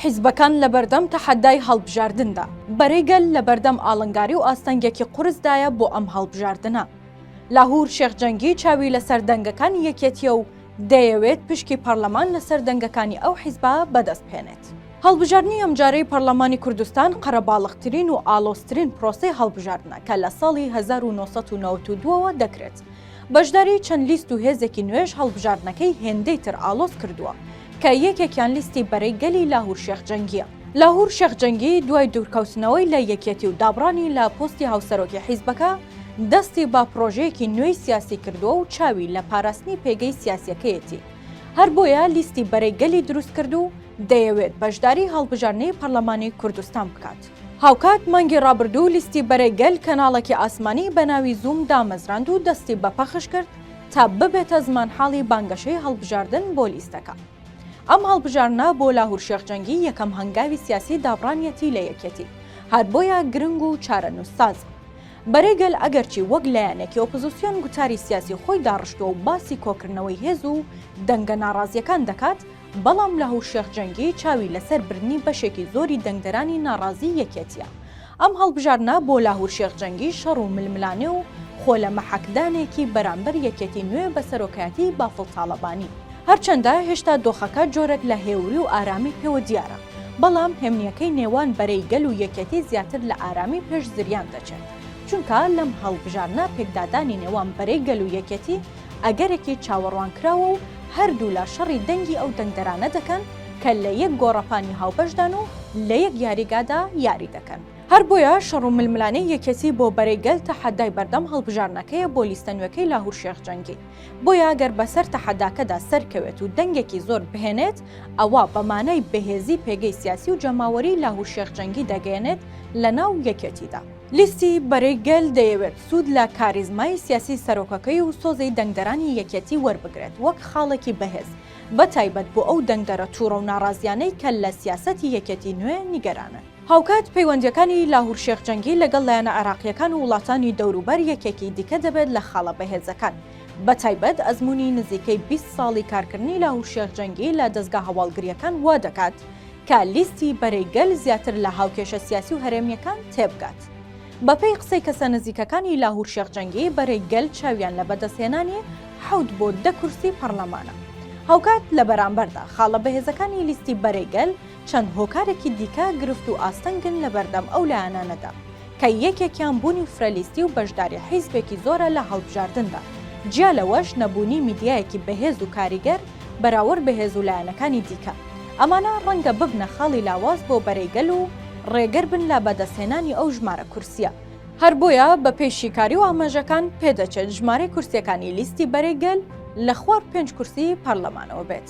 حیزبەکان لەبەردەم تەحەدای هەڵبژاردندا، بەرەی گەل لەبەردەم ئاڵنگاری و ئاستەنگێکی قورسدایە بۆ ئەم هەڵبژاردنە. لاهور شێخ جەنگی چاوی لەسەر دەنگەکانی یەکێتییە و دەیەوێت پشکی پەڕلەمان لەسەر دەنگەکانی ئەو حیزبە بەدەستبهێنێت. هەڵبژاردنی ئەمجارەی پەڕلەمانی کوردستان قەرەباڵغترین و ئاڵۆزترین پرۆسەی هەڵبژاردنە کە لە ساڵی هەزار و نۆ سەد و نەوەد و دوو ەوە دەکرێت، بەشداری چەند لیست و هێزێکی نوێش هەڵبژاردنەکەی هێندەی تر ئاڵۆز کردووە، کە یەکێکیان لیستی بەرەی گەلی لاهور شێخ جەنگییە. لاهور شێخ جەنگی دوای دوورکەوتنەوەی لە یەکێتی و دابڕانی لە پۆستی هاوسەرۆکی حیزبەکە، دەستی بە پڕۆژەیەکی نوێی سیاسی کردووە و چاوی لە پاراستنی پێگەی سیاسییەکەیەتی، هەر بۆیە لیستی بەرەی گەلی دروست کرد و دەیەوێت بەشداری هەڵبژاردنەی پەرلەمانی کوردستان بکات. هاوکات مانگی ڕابردوو لیستی بەرەی گەل کەناڵێکی ئاسمانی بە ناوی زووم دامەزراند و دەستی بە پەخش کرد تا ببێتە زمانحاڵی بانگەشەی هەڵبژاردن بۆ لیستەکە. ئەم هەڵبژاردنە بۆ لاهور شێخ جەنگی یەکەم هەنگاوی سیاسی دابڕانیەتی لە یەکێتی، هەر بۆیە گرنگ و چارەنووسسازە. بەرەی گەل ئەگەرچی وەک لایەنێکی ئۆپزسیۆن گوتاری سیاسی خۆی داڕشتووە و باسی کۆکردنەوەی هێز و دەنگە ناڕازییەکان دەکات، بەڵام لاهور شێخ جەنگی چاوی لەسەر بردنی بەشێکی زۆری دەنگدەرانی ناڕازیی یەکێتییە. ئەم هەڵبژاردنە بۆ لاهور شێخ جەنگی شەڕ و ململانێ و خۆ لە مەحەکدانێکی بەرامبەر یەکێتی نوێ بە سەرۆکایەتیی بافڵ تاڵەبانی. هەرچەندە هێشتا دۆخەکە جۆرێک لە هێوری و ئارامی پێوە دیارە، بەڵام هێمنییەکەی نێوان بەرەی گەل و یەکێتی زیاتر لە ئارامی پێش زریان دەچێت، چونکە لەم هەڵبژاردنە پێکدادانی نێوان بەرەی گەل و یەکێتی، ئەگەرێکی چاوەڕوانکراوە و هەردوولا شەڕی دەنگی ئەو دەنگدەرانە دەکەن کە لە یەک گۆڕەپانی هاوبەشدان و لە یەک یاریگادا یاری دەکەن. هەر بۆیە شەڕ و ململانێی یەکێتی بۆ بەرەی گەل تەحەدای بەردەم هەڵبژاردنەکەیە بۆ لیستە نوێکەی لاهور شێخ جەنگی، بۆیە گەر بەسەر تەحەداکەدا سەرکەوێت و دەنگێکی زۆر بهێنێت ئەوا بە مانای بەهێزی پێگەی سیاسی و جەماوەری لاهور شێخ جەنگی دەگەیەنێت لەناو یەکێتیدا. لیستی بەرەی گەل دەیەوێت سوود لە کاریزمای سیاسی سەرۆکەکەی و سۆزی دەنگدەرانی یەکێتی وەربگرێت وەک خاڵێکی بەهێز، بە تایبەت بۆ ئەو دەنگدەرە تووڕە و ناڕازییانەی کە لە سیاسەتی یەکێتی نوێ نیگەرانن. هاوکات پەیوەندییەکانی لاهور شێخ جەنگی لەگەڵ لایەنە عێراقییەکان و وڵاتانی دەوروبەر یەکێکی دیکە دەبێت لە خاڵە بەهێزەکان، بە تایبەت ئەزموونی نزیکەی بیست ساڵی کارکردنی لاهور شێخ جەنگی لە دەزگا هەواڵگرییەکان وا دەکات کە لیستی بەرەی گەل زیاتر لە هاوکێشە سیاسی و هەرێمییەکان تێبگات. بەپێی قسەی کەسە نزیکەکانی لاهور شێخ جەنگی، بەرەی گەل چاویان لە بەدەستهێنانی حەوت بۆ دە کورسی پەڕلەمانە. هاوکات لە بەرامبەردا، خاڵە بەهێزەکانی لیستی بەرەی گەل چەند هۆکارێکی دیکە گرفت و ئاستەنگن لە بەردەم ئەو لایەنانەدا، کە یەکێکیان بوونی فرە لیستی و بەشداری حیزبێکی زۆرە لە هەڵبژاردندا، جیا لەوەش نەبوونی میدیایەکی بەهێز و کاریگەر، بەراورد بە هێز و لایەنەکانی دیکە. ئەمانە ڕەنگە ببنە خاڵی لاواز بۆ بەرەی گەل و ڕێگەر بن لە بەدەستهێنانی ئەو ژمارە کورسییە. هەر بۆیە بە پێی شیکاری و ئاماژەکان پێ دەچێت ژمارەی کورسییەکانی لیستی بەرەی گەل لە خوار پێنج کورسی پەرلەمانەوە بێت.